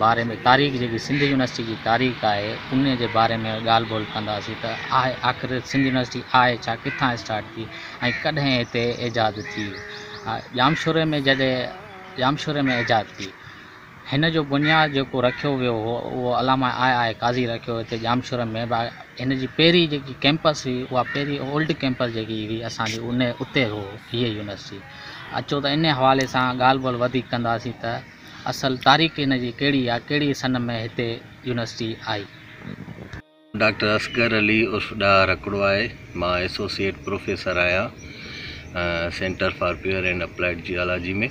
باري ۾ تاريخ جيڪي سنڌ يونيورسٽي جي تاريخ آهي ان جي باري ۾ ڳالهه ٻولهه ڪنداسين ته آهي آخر سنڌ يونيورسٽي آهي ڇا ڪٿان اسٽارٽ ٿي ۽ ڪڏهن هتي ايجاد ٿي ڄامشوري ۾ جڏهن ڄامشوري ۾ ايجاد ٿي هن جو بنياد جيڪو رکيو ويو هو اهو علامه آء آء قاضي رکيو هتي ڄامشوري ۾ با هن جي پهرين جيڪي ڪيمپس هئي اها پهرين اولڊ ڪيمپس جيڪي هئي اسانجي ان اتي هو هيء يونيورسٽي اچو ته ان حوالي سان ڳالهه ٻولهه وڌيڪ ڪنداسين ته اصل تاريخ ان جي ڪهڙي آ ڪهڙي سن ۾ هتي يونيورسٽي آئي. ڊاڪٽر اصغر علي عرف ڏاهه رکڙو آهي مان ايسوسيئيٽ پروفيسر آهيان centre for pure and applied geology ۾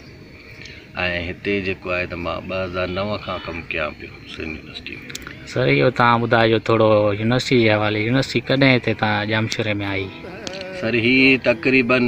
۽ هتي جيڪو آهي ته مان ٻه هزار نو کان ڪم ڪيان پيو سنڌ يونيورسٽي ۾. سر اهو تان ٻڌائجو ٿورو يونيورسٽي جي حوالي يونيورسٽي ڪڏهن هتي تان ڄامشوري ۾ آئي. سر هي تقريبن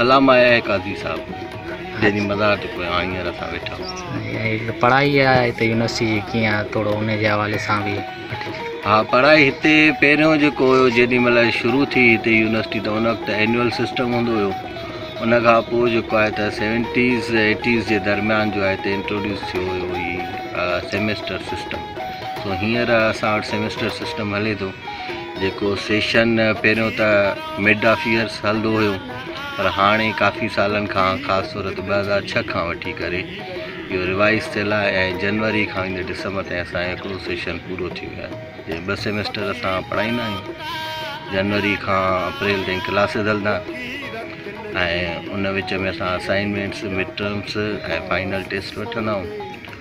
علامه اي قاضي صاحب جنهن جي مزار تي پويان هينئر اسان ويٺا آهيون پڙهائي آهي هتي يونيورسٽي جي ڪيئن آهي ٿورو ان جي حوالي سان به ها پڙهائي هتي پهريون جيڪو هيو جيڏي مهل شروع ٿي هتي يونيورسٽي ته ان وقت اينيول سسٽم هوندو هيو ان کان پوء جيڪو آهي ته سيونٽيز ايٽيز جي درميان جو آهي هتي انٽروڊيوس ٿيو هيو هي سيمسٽر سسٽم سو هينئر اسان وٽ سيمسٽر سسٽم هلي ٿو جيڪو سيشن پهريون ته مڊ آف ايئرس هلندو هيو پر هاڻي ڪافي سالن کان خاص طور تي ٻه هزار ڇهه کان وٺي ڪري اهو روايز ٿيل آهي ۽ جنوري کان ويندي ڊسمبر تائين اسان جو هڪڙو سيشن پورو ٿي ويو آهي جنهن ٻه سيمسٽر اسان پڙهائيندا آهيون جنوري کان اپريل تائين ڪلاسز هلندا ۽ ان وچ ۾ اسان assignments mid terms ۽ final test وٺندا آهيون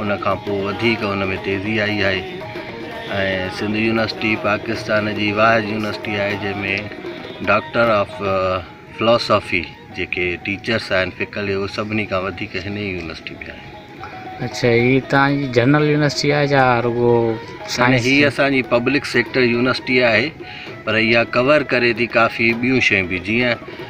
ان کان پوء وڌيڪ ان ۾ تيزي آئي آهي ۽ سنڌ يونيورسٽي پاڪستان جي واحد يونيورسٽي آهي جنهن ۾ ڊاڪٽر آف فلاسافي جيڪي ٽيچرس آهن فڪلي اهي سڀني کان وڌيڪ هن ئي يونيورسٽي ۾ آهن اچھا هي توهان جي جنرل يونيورسٽي آهي جا رڳو سائنس هي اسان جي پبلڪ سيڪٽر يونيورسٽي آهي پر اها ڪور ڪري ٿي ڪافي ٻيون شيون به جيئن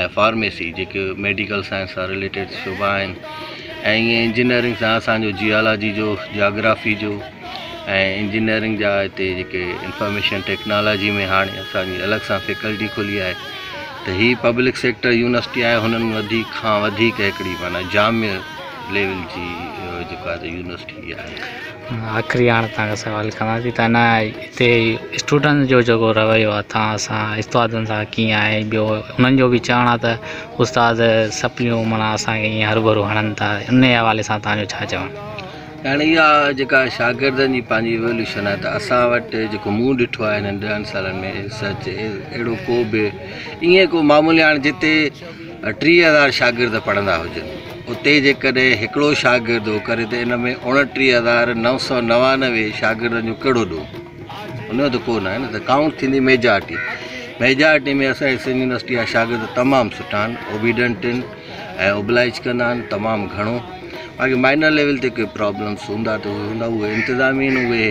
۽ فارميسي جيڪي ميڊيڪل سائنس سان رليٽيڊ شعبا آهن ۽ ائين انجنيئرنگ سان اسانجو جيالاجي جو جاگرافي جو ۽ انجنيئرنگ جا هتي جيڪي انفارميشن ٽيڪنالاجي ۾ هاڻي اسانجي الڳ سان فيڪلٽي کلي آهي ته هي پبلڪ سيڪٽر يونيورسٽي آهي هنن وڌيڪ کان وڌيڪ هڪڙي معنيٰ جامع ليول جي جيڪا يونيورسٽي آهي آخري هاڻ تان کان سوال ڪران ٿي تانه هتي اسٽوڊنٽ جو جيڪو رويو آ تان سان استادن سان ڪيئن آهي ٻيو انهن جو بي چوڻ آهي ته استاد سپليون منا اسانکي ايئن هر ڀرو هڻن ٿا ان جي حوالي سان تان جو ڇا چوڻ هاڻي اها جيڪا شاگردن جي پنهنجي ايوولوشن آهي ته اسان وٽ جيڪو مون ڏٺو آهي هنن ڏهن سالن ۾ سچ اهڙو ڪو به ايئن ڪو معمول هاڻي جتي ٽيهه هزار شاگرد پڙهندا هجن، اتي جيڪڏهن هڪڙو شاگرد اهو ڪري ته ان ۾ اوڻٽيهه هزار نو سؤ نوانوي شاگردن جو ڪهڙو ڏوهه؟ ان جو ته ڪو ناهي نه، ته ڪائونٽ ٿيندي ميجارٽي، ميجارٽي ۾ اسانجي سنڌ يونيورسٽي جا شاگرد تمام سٺا آهن، اوبيڊنٽ آهن ۽ اوبلائيج ڪندا آهن تمام گهڻو، باقي مائنر ليول تي ڪي پرابلمس هوندا ته اهي هوندا، اهي انتظامين اهي.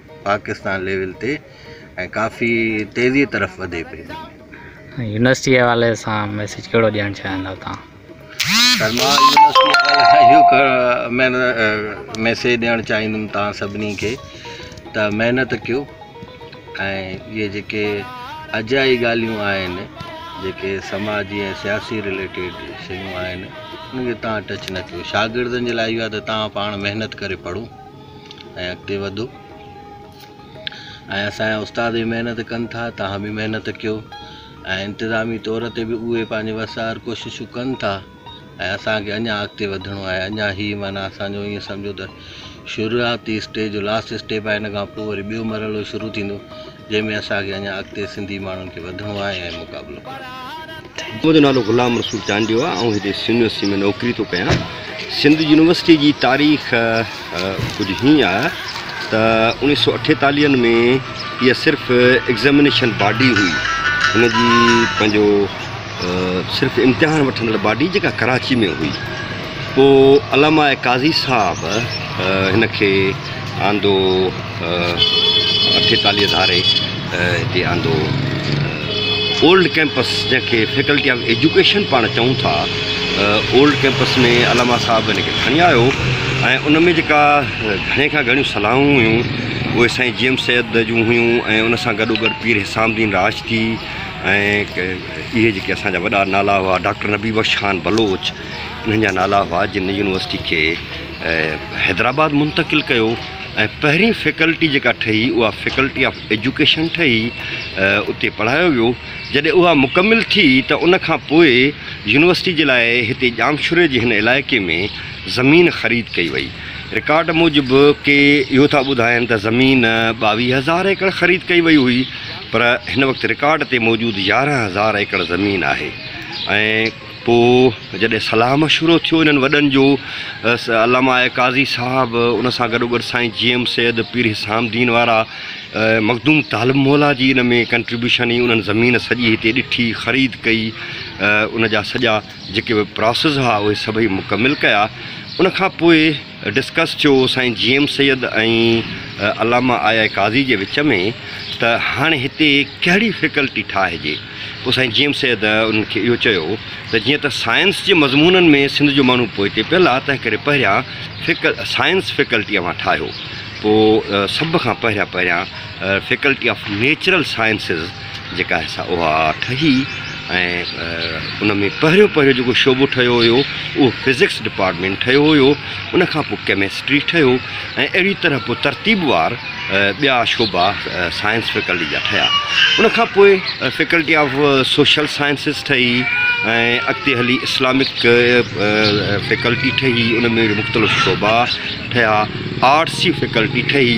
پاڪستان ليول تي ۽ ڪافي تيزي طرف وڌي پئي. يونيورسٽي حوالي سان ميسيج ڪهڙو ڏيڻ چاهيندا تهان؟ سر مان يونيورسٽي حوالي سان اهو ڪهڙو ميسيج ڏيڻ چاهيندم تهان سڀني کي ته محنت ڪيو ۽ اهي جيڪي اجائي ڳالهيون آهن جيڪي سماجي ۽ سياسي رليٽيڊ شيون آهن ان کي تهان ٽچ نه ڪيو شاگردن جي لاء اهو آهي ته تهان پاڻ محنت ڪري پڙهو ۽ اڳتي وڌو ۽ اسان جا استاد به محنت ڪن ٿا تهان به محنت ڪيو ۽ انتظامي طور تي به اهي پنهنجي وسار ڪوششون ڪن ٿا ۽ اسانکي اڃا اڳتي وڌڻو آهي اڃا هي معنيٰ اسانجو ائين سمجهو ته شروعاتي اسٽيج جو لاسٽ اسٽيپ آهي ان کان پوء وري ٻيو مرحلو شروع ٿيندو جنهن ۾ اسان کي اڃا اڳتي سنڌي ماڻهن کي وڌڻو آهي ۽ مقابلو ڪرڻو آهي. منهنجو نالو غلام رسول چانڊيو آهي آئون هتي سنڌ يونيورسٽي ۾ نوڪري ٿو ڪيان سنڌ يونيورسٽي جي تاريخ ڪجهه هيئن آهي ته اوڻيهه سؤ اٺيتاليهن ۾ اها صرف ايگزامينيشن باڊي هئي هن جي پنهنجو صرف امتحان وٺندڙ باڊي جيڪا ڪراچي ۾ هئي پوء علامه قاضي صاحب هن کي آندو اٺيتاليهه ڌاري هتي آندو اولڊ ڪيمپس جنهن کي فيڪلٽي آف ايجوڪيشن پاڻ چئون ٿا اولڊ ڪيمپس ۾ علامه صاحب هن کي کڻي آيو ۽ ان ۾ جيڪا گهڻي کان گهڻيون صلاحون هيون اهي سائين جي ايم سيد جون هيون ۽ ان سان گڏوگڏ پير حسام الدين راشدي ۽ اهي جيڪي اسان جا وڏا نالا هئا ڊاڪٽر نبي بخش خان بلوچ انهن جا نالا هئا جن يونيورسٽي کي حيدرآباد منتقل ڪيو ۽ پهرين فيڪلٽي جيڪا ٺهي اها فيڪلٽي آف ايجوڪيشن ٺهي اتي پڙهايو ويو جڏهن اها مڪمل ٿي ته ان کان پوء يونيورسٽي جي لاء هتي ڄامشوري جي هن علائقي ۾ زمين خريد ڪئي وئي رڪارڊ موجب ڪي اهو ٿا ٻڌائين ته زمين ٻاويهه هزار ايڪڙ خريد ڪئي وئي هئي پر هن وقت رڪارڊ تي موجود يارهن هزار ايڪڙ زمين آهي ۽ پوء جڏهن صلاح مشورو ٿيو انهن وڏن جو علامه قاضي صاحب ان سان گڏوگڏ سائين جي ايم سيد پير حسام دين وارا مخدوم طالب مولا جي ان ۾ ڪنٽريبيوشن هي انهن زمين سڄي هتي ڏٺي خريد ڪئي ان جا سڄا جيڪي به پراسز ها اهي سڀئي مڪمل ڪيا ان کان پوء ڊسڪس جو سائين جي ايم سيد ۽ علامه آء آء قاضي جي وچ ۾ ته هاڻي هتي ڪهڙي فيڪلٽي ٺاهجي؟ پوء سائين جي ايم سيد انهن کي اهو چيو ته جيئن ته سائنس جي مضمونن ۾ سنڌ جو ماڻهو پوئتي پيل آ تنهنڪري پهريان سائنس فيڪلٽي اوهان ٺاهيو پوء سڀ کان پهريان پهريان فيڪلٽي آف نيچرل سائنسز جيڪا هي سا اها ٺهي ۽ ان ۾ پهريون پهريون جيڪو شعبو ٺهيو هيو اهو فزڪس ڊپارٽمينٽ ٺهيو هيو ان کان پوء ڪيمسٽري ٺهيو ۽ اهڙي طرح پوء ترتيب وار ٻيا شعبا سائنس فيڪلٽي جا ٺهيا ان کان پوء فيڪلٽي آف سوشل سائنسز ٺهي ۽ اڳتي هلي اسلامڪ فيڪلٽي ٺهي ان ۾ مختلف شعبا ٺهيا آرٽس جي فيڪلٽي ٺهي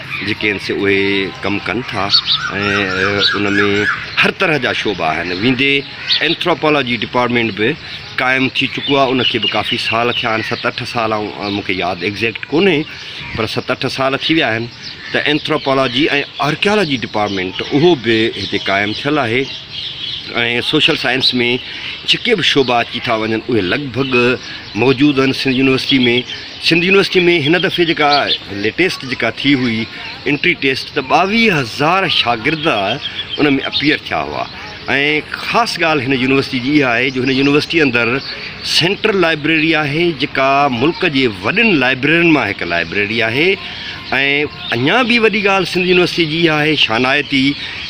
جيڪي آهن سي اهي ڪم ڪن ٿا ۽ ان ۾ هر طرح جا شعبا آهن ويندي اينٿراپالاجي ڊپارٽمينٽ به قائم ٿي چڪو آهي ان کي به ڪافي سال ٿيا آهن ست اٺ سال آئون مون کي ياد ايگزيڪٽ ڪونهي پر ست اٺ سال ٿي ويا آهن ته اينٿراپالاجي ۽ آرڪيالاجي ڊپارٽمينٽ اهو به هتي قائم ٿيل آهي ۽ سوشل سائنس ۾ جيڪي به شعبا اچي ٿا وڃن اهي لڳ ڀڳ موجود آهن سنڌ يونيورسٽي ۾ سنڌ يونيورسٽي ۾ هن دفعي جيڪا ليٽيسٽ جيڪا ٿي هئي انٽري ٽيسٽ ته ٻاويهه هزار شاگرد ان ۾ اپيئر ٿيا هئا ۽ خاص ڳالهه هن يونيورسٽي جي اها آهي جو هن يونيورسٽي اندر سينٽرل لائبريري آهي جيڪا ملڪ جي وڏين لائبريرين مان هڪ لائبريري آهي ۽ اڃا به وڏي ڳالهه سنڌ يونيورسٽي جي اها آهي شانائتي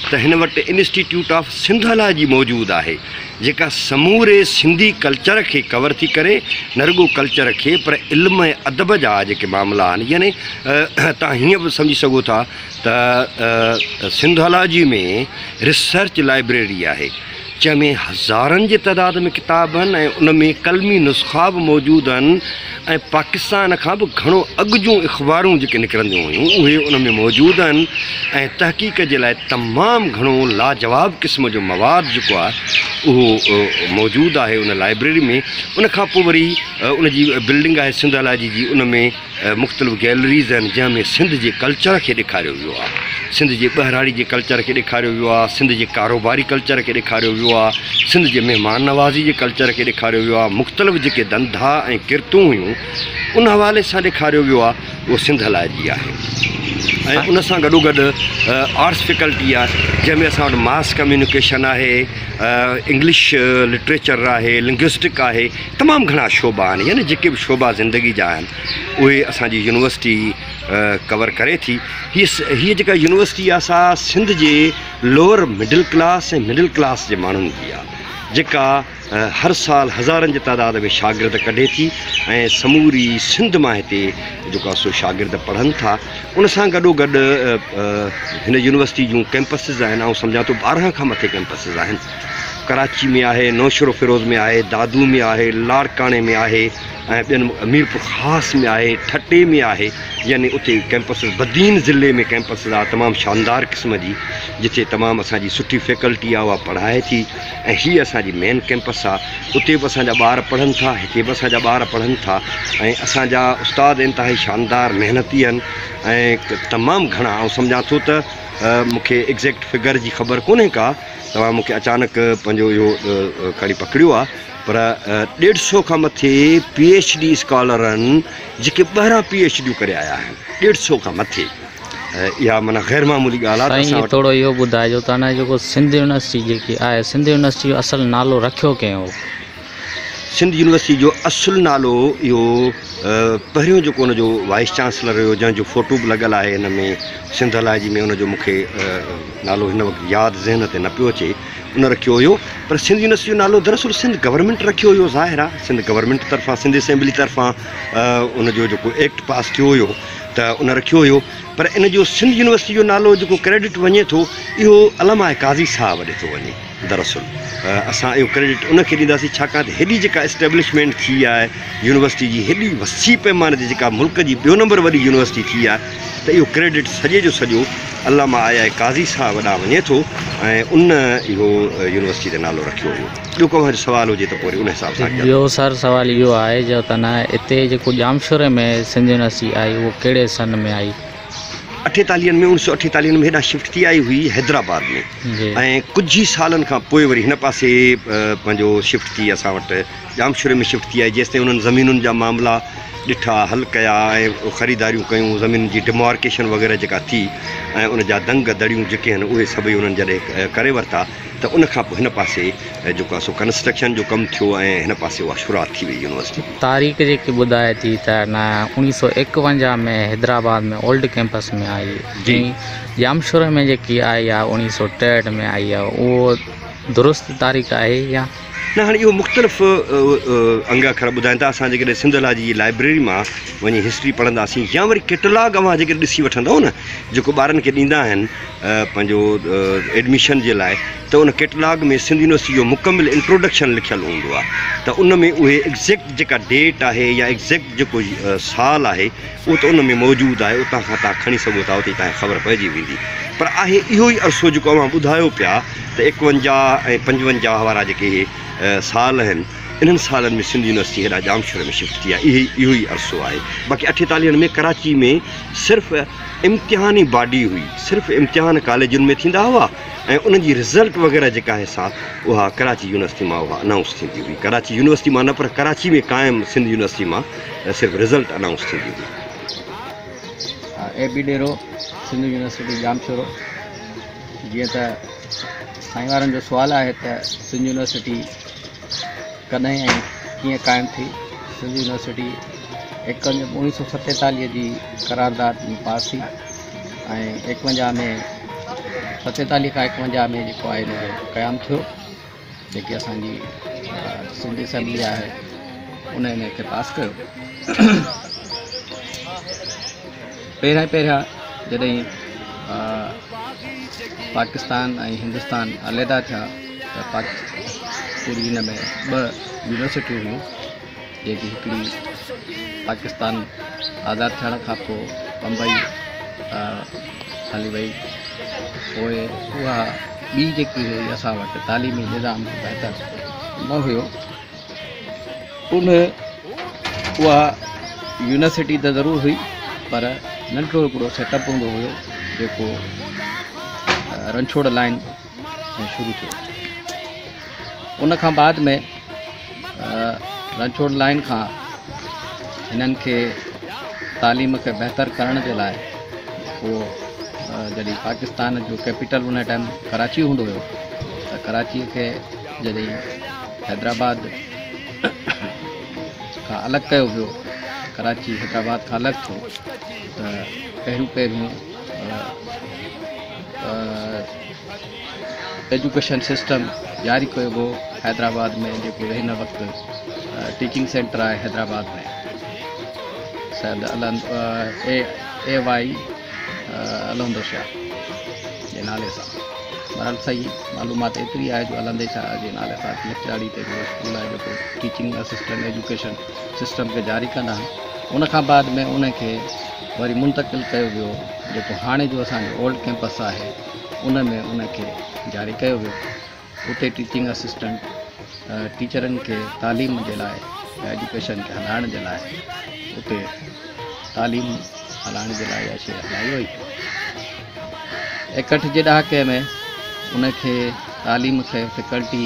ته هن وٽ انسٽيٽيوٽ آف سنڌ الاجي موجود آهي جيڪا سموري سنڌي ڪلچر کي ڪور ٿي ڪري، نه رڳو ڪلچر کي پر علم ۽ ادب جا جيڪي معاملا آهن يعني تهان هيئن به سمجهي سگهو ٿا ته سنڌالاجي ۾ ريسرچ لائبريري آهي جنهن ۾ هزارن جي تعداد ۾ ڪتاب آهن ۽ ان ۾ قلمي نسخا به موجود آهن ۽ پاڪستان کان به گهڻو اڳ جون اخبارون جيڪي نڪرنديون هيون اهي ان ۾ موجود آهن ۽ تحقيق جي لاء تمام گهڻو لاجواب قسم جو مواد جيڪو آهي اهو موجود آهي ان لائبريري ۾ ان کان پوء وري ان جي بلڊنگ آهي سنڌالاجي جي ان ۾ مختلف گيلريز آهن جنهن ۾ سنڌ جي ڪلچر کي ڏيکاريو ويو آهي سنڌ جي ٻهراڙي جي ڪلچر کي ڏيکاريو ويو آهي، سنڌ جي ڪاروباري ڪلچر کي ڏيکاريو ويو آهي، سنڌ جي مهمان نوازي جي ڪلچر کي ڏيکاريو ويو آهي، مختلف جيڪي ڌنڌا ۽ ڪرتون هيون ان حوالي سان ڏيکاريو ويو آهي اهو سنڌ هلائي رهي آهي ۽ ان سان گڏوگڏ آرٽس فيڪلٽي آهي جنهن ۾ اسان وٽ ماس ڪميونيڪيشن آهي انگلش لٽريچر آهي لنگوسٽڪ آهي تمام گهڻا شعبا آهن يعني جيڪي به شعبا زندگي جا آهن اهي اسانجي يونيورسٽي ڪور ڪري ٿي هي هي جيڪا يونيورسٽي آهي سا سنڌ جي lower middle class ۽ middle class جي ماڻهن جي آهي جيڪا هر سال هزارن جي تعداد ۾ شاگرد ڪڍي ٿي ۽ سموري سنڌ مان هتي جيڪو سو شاگرد پڙهن ٿا ان سان گڏو گڏ هن يونيورسٽي جون ڪيمپسز آهن آئون سمجھان ٿو ٻارهن کان مٿي ڪيمپسز آهن ڪراچي ۾ آهي نوشهرو فيروز ۾ آهي دادو ۾ آهي لاڙڪاڻي ۾ آهي ۽ ٻين ميرپور خاص ۾ آهي ٺٽي ۾ آهي يعني اتي ڪيمپسز بدين ضلعي ۾ ڪيمپسز آ تمام شاندار قسم جي جتي تمام اسان جي سٺي فيڪلٽي آ اها پڙهائي ٿي ۽ هي اسان جي مين ڪيمپس آ اتي به اسان جا ٻار پڙهن ٿا هتي به اسان جا ٻار پڙهن ٿا ۽ اسان جا استاد انتهائي شاندار محنتي آهن ۽ تمام گهڻا آئون سمجهان ٿو ته مونکي ايگزيڪٽ فگر جي خبر ڪونهي ڪا توهان مونکي اچانڪ پنهنجو اهو کڻي پڪڙيو آ پر ڏيڍ سو کان مٿي پي ايڇ ڊي اسڪالر آهن جيڪي ٻاهران پي ايڇ ڊيون ڪري آيا آهن ڏيڍ سو کان مٿي اها معنيٰ غير معمولي ڳالهه آهي ته اسان وٽ ٿورو اهو ٻڌائجو ته هن جيڪو سنڌ يونيورسٽي جيڪي آهي سنڌ يونيورسٽي جو اصل نالو رکيو ڪنهن هو؟ سنڌ يونيورسٽي جو اصل نالو اهو پهريون جيڪو ان جو وائيس چانسلر هيو جنهن جو فوٽو به لڳل آهي هن ۾ سنڌ الاجي ۾ ان جو مونکي نالو هن وقت ياد ذهن تي نه پيو اچي ان رکيو هيو پر سنڌ يونيورسٽي جو نالو دراصل سنڌ گورنمينٽ رکيو هيو ظاهر آهي سنڌ گورنمينٽ طرفان سنڌ اسيمبلي طرفان ان جو جيڪو ايڪٽ پاس ٿيو هيو ته ان رکيو هيو پر ان جو سنڌ يونيورسٽي جو نالو جيڪو ڪريڊٽ وڃي ٿو اهو علامه قاضي صاحب ڏي ٿو وڃي دراصل اسان اهو ڪريڊٽ ان کي ڏينداسين ڇاڪاڻ ته هيڏي جيڪا اسٽيبلشمينٽ ٿي آهي يونيورسٽي جي هيڏي وسيع پيماني تي جيڪا ملڪ جي ٻيو نمبر وڏي يونيورسٽي ٿي آهي ته اهو ڪريڊٽ سڄي جو سڄو علامه آيا قاضي صاحب ڏانهن وڃي ٿو ۽ ان اهو يونيورسٽي تي نالو رکيو هو. ٻيو ڪو اوهان جو سوال هجي ته پوء وري ان حساب سان اڳيان ٻيو وڌون. سر سوال اهو آهي جو تنه هتي جيڪو ڄامشوري ۾ سنڌ يونيورسٽي آئي اهو ڪهڙي سن ۾ آئي؟ اٺيتاليهن ۾ اوڻيھ سؤ اٺيتاليهن ۾ هيڏانهن شفٽ ٿي آئي هئي حيدرآباد ۾ جي. ۽ ڪجهه ئي سالن کان پوء وري هن پاسي پنهنجو شفٽ ٿي اسان وٽ ڄامشوري ۾ شفٽ ٿي آئي جيستائين انهن زمينن جا معاملا ڏٺا حل ڪيا ۽ خريداريون ڪيون زمينن جي ڊمارڪيشن وغيره جيڪا ٿي ۽ ان جا دنگ دڙيون جيڪي آهن اهي سڀئي انهن جڏهن ڪري ورتا ته ان کان پوء هن پاسي جيڪو آهي سو ڪنسٽرڪشن جو ڪم ٿيو ۽ هن پاسي اها شروعات ٿي وئي يونيورسٽي. تاريخ جيڪي ٻڌائي ٿي ته نه اوڻيهه سؤ ايڪونجاهه ۾ حيدرآباد ۾ اولڊ ڪيمپس ۾ آئي جي ۽ ڄامشوري ۾ جيڪي آئي آهي اوڻيهه سؤ ٽيهٺ ۾ آئي آهي اهو درست تاريخ آهي يا نه هاڻي اهو مختلف انگ اکر ٻڌائين ٿا اسان جيڪڏهن سنڌ لا جي لائبريري مان وڃي هسٽري پڙهنداسين يا وري ڪيٽلاگ اوهان جيڪڏهن ڏسي وٺندو نه جيڪو ٻارن کي ڏيندا آهن پنهنجو ايڊميشن جي لاء ته ان ڪيٽلاگ ۾ سنڌ يونيورسٽي جو مڪمل انٽروڊڪشن لکيل هوندو آهي ته ان ۾ اهي ايگزيڪٽ جيڪا ڊيٽ آهي يا ايگزيڪٽ جيڪو سال آهي اهو ته ان ۾ موجود آهي، اتان کان توهان کڻي سگهو ٿا، اتي توهان کي خبر پئجي ويندي. پر آهي اهو ئي عرصو جيڪو اوهان ٻڌايو پيا ته ايڪونجاهه ۽ پنجونجاهه وارا جيڪي اهي سال آهن، انهن سالن ۾ سنڌ يونيورسٽي هيڏانهن ڄامشوري ۾ شفٽ ٿي آهي، اهي اهو ئي عرصو آهي. باقي اٺيتاليهن ۾ ڪراچي ۾ صرف امتحان ئي باڊي هئي، صرف امتحان ڪاليجن ۾ ٿيندا هئا ۽ انهن جي رزلٽ وغيره جيڪا آهي سا اها ڪراچي يونيورسٽي مان اها انائونس ٿيندي هئي. ڪراچي يونيورسٽي مان نه پر ڪراچي ۾ قائم سنڌ يونيورسٽي مان. ته صرف رزلٽ انائونس ٿيندي هئي. اي بي ڏيرو سنڌو يونيورسٽي ڄامشورو جيئن ته سائين وارن جو سوال آهي ته سنڌو يونيورسٽي ڪڏهن ۽ ڪيئن قائم ٿي سنڌو يونيورسٽي ايڪونج اوڻيهه سو ستيتاليهه جي قرارداد ۾ پاس ٿي ۽ ايڪونجاهه ۾ ستيتاليهه کان ايڪونجاهه ۾ جيڪو آهي ان جو قيام ٿيو جيڪي اسان جي سنڌ اسيمبلي آهي ان ان کي پاس ڪيو پهريان پهريان جڏهن پاڪستان ۽ هندستان عليحده ٿيا ته پوري هن ۾ ٻه يونيورسٽيون هيون جيڪي هڪڙي پاڪستان آزاد ٿيڻ کان پوء بمبئي هلي وئي پوء اها ٻي جيڪي هئي اسان وٽ تعليمي نظام به بهتر نه هيو ان اها يونيورسٽي ته ضرور هئي پر ننڍڙو هڪڙو سيٽ اپ هوندو هيو جيڪو رنڇوڙ لائن ۾ شروع ٿيو. ان کان بعد ۾ رنڇوڙ لائين کان هنن کي تعليم کي بهتر ڪرڻ جي لاء اهو جڏهن پاڪستان جو ڪيپيٽل ان ٽائيم ڪراچي هوندو هيو ته ڪراچي کي جڏهن حيدرآباد کان الڳ ڪيو ويو ڪراچي حيدرآباد کان الڳ ٿيو ته پهريون پهريون ايجوڪيشن سسٽم جاري ڪيو ويو حيدرآباد ۾ جيڪو هن وقت ٽيچنگ سينٽر آهي حيدرآباد ۾ سيد اي واء الهندو شاهه جي نالي سان بهرحال صحيح معلومات ايتري آهي جو الهندي شاهه جي نالي سان لکجاڙي تي هڪڙو اسڪول آهي جيڪو ٽيچنگ اسسٽنٽ ايجوڪيشن سسٽم کي جاري ڪندا آهن ان کان بعد ۾ ان کي وري منتقل ڪيو ويو جيڪو هاڻي جو اسان جو اولڊ ڪيمپس آهي ان ۾ ان کي جاري ڪيو ويو اتي ٽيچنگ اسسٽنٽ ٽيچرن کي تعليم جي لاء يا ايجوڪيشن کي هلائڻ جي لاء اتي تعليم هلائڻ جي لاء اها شي هلائي وئي اڪهٺ جي ڏهاڪي ۾ ان کي تعليم کي فيڪلٽي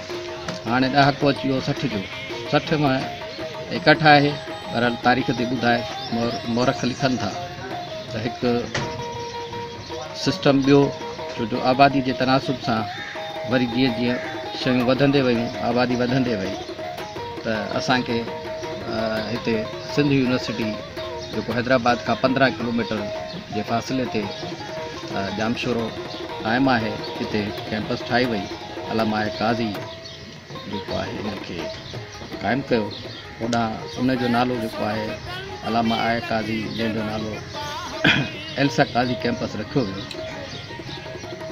هاڻي ڏهاڪو اچي ويو سٺ جو. سٺ مان ايڪهٺ آهي. بهرحال تاريخ تي ٻڌائي مورخ لکن ٿا ته هڪ سسٽم ٻيو ڇو جو آبادي جي تناسب سان وري جيئن جيئن شيون وڌندي ويون آبادي وڌندي وئي ته اسان کي هتي سنڌ يونيورسٽي جيڪو حيدرآباد کان پندرهن ڪلوميٽر جي فاصلي تي ڄامشورو قائم آهي هتي ڪيمپس ٺاهي وئي علامه قاضي جيڪو آهي ان کي قائم ڪيو هوڏانهن ان جو نالو جيڪو آهي علامه آء قاضي جنهن جو نالو ايلسا قاضي ڪيمپس رکيو ويو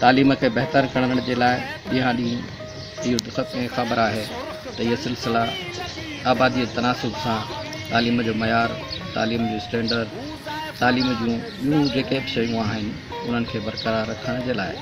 تعليم کي بهتر ڪرڻ جي لاء ڏينهان ڏينهن اهو ته سڀ کي خبر آهي ته اهي سلسلا آبادي تناسب سان تعليم جو معيار تعليم جو اسٽينڊرڊ تعليم جون ٻيون جيڪي به شيون آهن انهن کي برقرار رکڻ جي لاء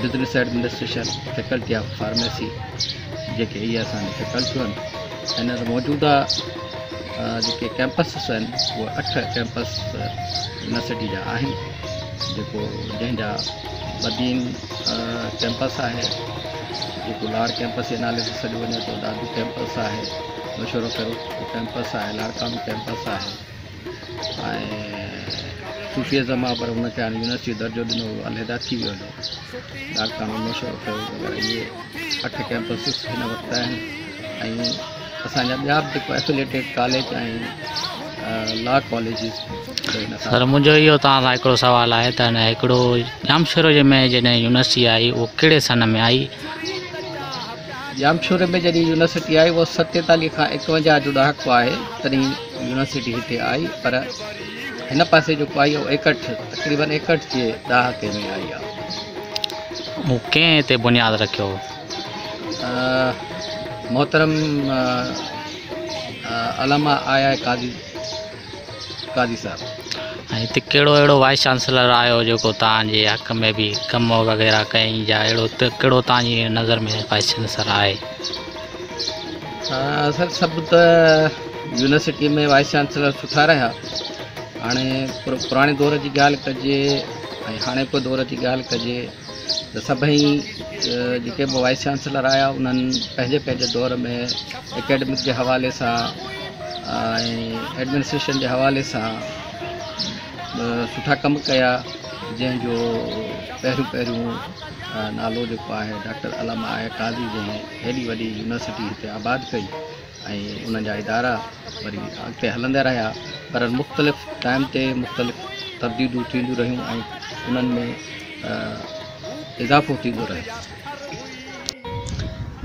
business administration, faculty of pharmacy جيڪي اهي اسان جون فيڪلٽيون آهن هينئر موجوده جيڪي ڪيمپسز آهن اهي اٺ ڪيمپس يونيورسٽي جا آهن جيڪو جنهن جا بدين ڪيمپس آهي جيڪو لاڙ ڪيمپس جي نالي سان سڏيو وڃي ٿو دادو ڪيمپس آهي مشورو ڪرو ڪيمپس آهي لاڙڪاڻو ڪيمپس آهي ۽ صوفي اعظم آ پر ان کي هاڻي يونيورسٽي جو درجو ڏنو ويو علحده ٿي ويو هو ڊاڪٽر محمد مشرف ٿيو وغيرہ اهي اٺ ڪيمپس هن وقت آهن ۽ اسان جا ٻيا به جيڪو افيليٽيڊ ڪاليج آهن لا ڪاليجز سر منهنجو اهو توهان کان هڪڙو سوال آهي ته هن هڪڙو ڄامشورو جي ۾ جڏهن يونيورسٽي آئي اهو ڪهڙي سن ۾ آئي ڄامشوري ۾ جڏهن يونيورسٽي آئي اهو ستيتاليهه کان ايڪونجاهه جو ڏهاڪو آهي تڏهن يونيورسٽي هتي آئي پر هن پاسي جيڪو آئي اهو ايڪهٺ تقريبن ايڪهٺ جي ڏهاڪي ۾ آئي آهي مون ڪنهن تي بنياد رکيو محترم علامه آء آء قاضي قاضي صاحب ۽ هتي ڪهڙو اهڙو وائيس چانسلر آيو جيڪو توهان جي حق ۾ به ڪم وغيره ڪيائين جا اهڙو ڪهڙو توهان جي نظر ۾ وائيس چانسلر آهي؟ سر سڀ ته يونيورسٽي ۾ وائيس چانسلر سٺا رهيا هاڻي پراڻي دور جي ڳالهه ڪجي ۽ هاڻوڪي دور جي ڳالهه ڪجي ته سڀئي جيڪي به وائيس چانسلر آيا انهن پنهنجي پنهنجي دور ۾ اڪيڊمڪ جي حوالي سان ۽ ايڊمنسٽريشن جي حوالي سان سٺا ڪم ڪيا جنهن جو پهريون پهريون نالو جيڪو آهي ڊاڪٽر علامه آهي قاضي جنهن هيڏي وڏي يونيورسٽي هتي آباد ڪئي ۽ انهن جا ادارا وري اڳتي هلندا رهيا پر مختلف ٽائيم تي مختلف تبديليون ٿينديون رهيون ۽ انهن ۾ اضافو ٿيندو رهيو.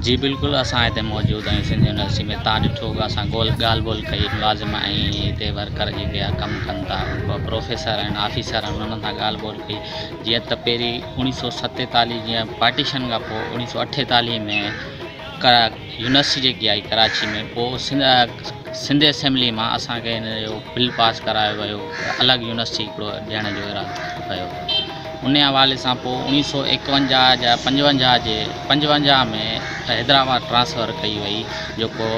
جي بلڪل اسان هتي موجود آهيون سنڌ يونيورسٽي ۾ تان ڏٺو هوگا اسان ڳالهه ٻولهه ڪئي ملازم ۽ هتي ورڪر جيڪي آ ڪم ڪن ٿا پروفيسر آهن آفيسر آهن انهن سان ڳالهه ٻولهه ڪئي جيئن ته پهرين اوڻيهه سو ستيتاليهه جيئن پارٽيشن کان پوء اوڻيهه سو اٺيتاليهه ۾ يونيورسٽي جيڪي آهي ڪراچي ۾ پوء سنڌ اسيمبلي مان اسانکي ان جو بل پاس ڪرايو ويو الڳ يونيورسٽي هڪڙو ڏيڻ جو اعلان ڪيو ويو ان حوالي سان پوء اوڻيهه سو ايڪونجاهه جا پنجونجاهه جي پنجونجاهه ۾ حيدرآباد ٽرانسفر ڪئي وئي جيڪو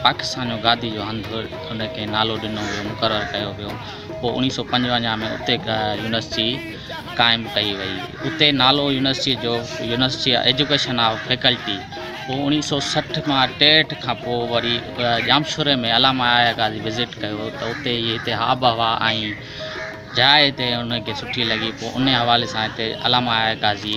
پاڪستان جو گادي جو هنڌ ان کي نالو ڏنو ويو مقرر ڪيو ويو پوء اوڻيهه سؤ پنجونجاهه ۾ اتي يونيورسٽي قائم ڪئي وئي اتي نالو يونيورسٽي جو يونيورسٽي ايجوڪيشن آف فيڪلٽي پوء اوڻيهه سؤ سٺ کان ٽيهٺ کان پوء وري ڄامشوري ۾ علامه آيا قاضي وزٽ ڪيو ته اتي هي هتي آب و هوا ۽ جاء هتي ان کي سٺي لڳي پوء ان حوالي سان هتي علامه آيا قاضي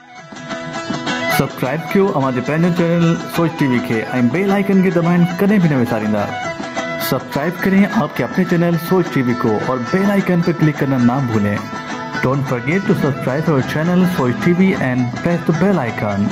سبسڪرائب ڪيو اوهان جي پنهنجو چينل سوچ ٽي وي کي ۽ بيل آئيڪن کي دٻائڻ ڪڏهن به نه وساريندا سبسڪرائب ڪرين آپ ڪي اپني چينل سوچ ٽي وي ڪو اور بيل آئيڪن پي ڪلڪ ڪرنا نا ڀولين ڊونٽ فرگيٽ ٽو سبسڪرائب اور channel Soch T V and press the bell icon.